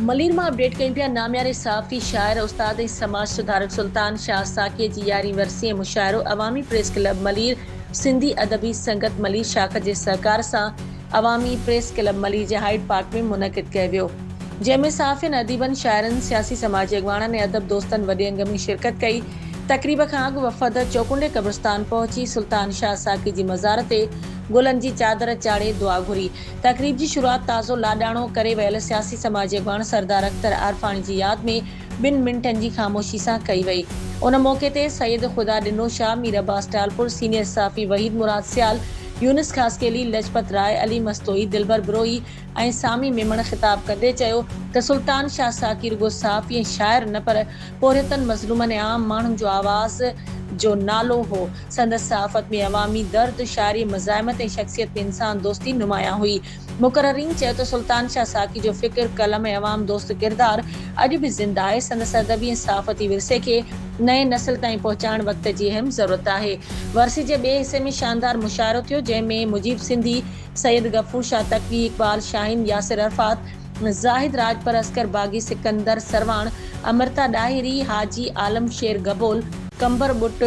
ملير مان اپڊيٽ ڪيون پيا نامياري صحافي، شاعر، استاد ۽ سماج سڌارڪ سلطان شاهه ساقيء جي يارهين ورسي ۽ مشاعرو عوامي پريس ڪلب ملير سنڌي ادبي سنگت ملير شاخ جي سهڪار سان عوامي پريس ڪلب ملير جي هائيڊ پارڪ ۾ منعقد ڪيو ويو جنهن ۾ صحافين اديبن شاعرن سياسي سماجي اڳواڻن ۽ ادب دوستن وڏي انگ ۾ شرڪت ڪئي تقريب کان اڳ وفد چوڪنڊي قبرستان پهچي سلطان شاهه ساقي جي مزار تي گلن جي چادر چاڙهي دعا گهري تقريب جي شروعات تازو لاڏاڻو ڪري ويل سياسي سماجي اڳواڻ سردار اختر عارفاڻي جي ياد ۾ ٻن منٽن جي خاموشي سان ڪئي وئي. ان موقعي تي سيد خدا ڏنو شاهه، مير عباس ٽالپر، سينيئر صحافي وحيد مراد سيال، يونس خاصخيلي، لجپت راء، علي مستوئي، دلبر بروهي ۽ سامي ميمڻ خطاب ڪندي چيو ته سلطان شاهه ساقي رڳو صحافي ۽ شاعر نه پر پورهيتن، مظلومن ۽ عام ماڻهن جو آواز جو نالو هو. سندس صحافت ۾ عوامي درد، شاعري، مزاحمت ۽ شخصيت ۾ انسان دوستي نمايان هئي. مقررين چيو ته سلطان شاهه ساقي جو فڪر، قلم ۽ عوام دوست ڪردار اڄ به زنده آهي. سندس ادبي ۽ صحافتي ورثي کي نئين نسل تائين پهچائڻ وقت جي اهم ضرورت آهي. ورسي جي ٻئي حصي ۾ شاندار مشاعرو ٿيو، جنهن ۾ مجيب سنڌي، سيد غفور شاهه تقوي، اقبال شاهين، ياسر عرفات، زاهد راڄپر، عسڪر باغي، سڪندر سرواڻ، امرتا ڏاهري، حاجي عالم شير گبول، قمبر ٻٽ،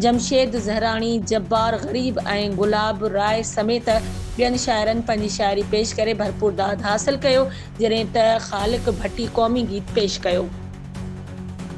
جمشيد زهراڻي، جبار غريب ۽ گلاب راء سميت ٻين شاعرن پنهنجي شاعري پيش ڪري ڀرپور داد حاصل ڪيو جڏهن ته خالق ڀٽي قومي گيت پيش ڪيو.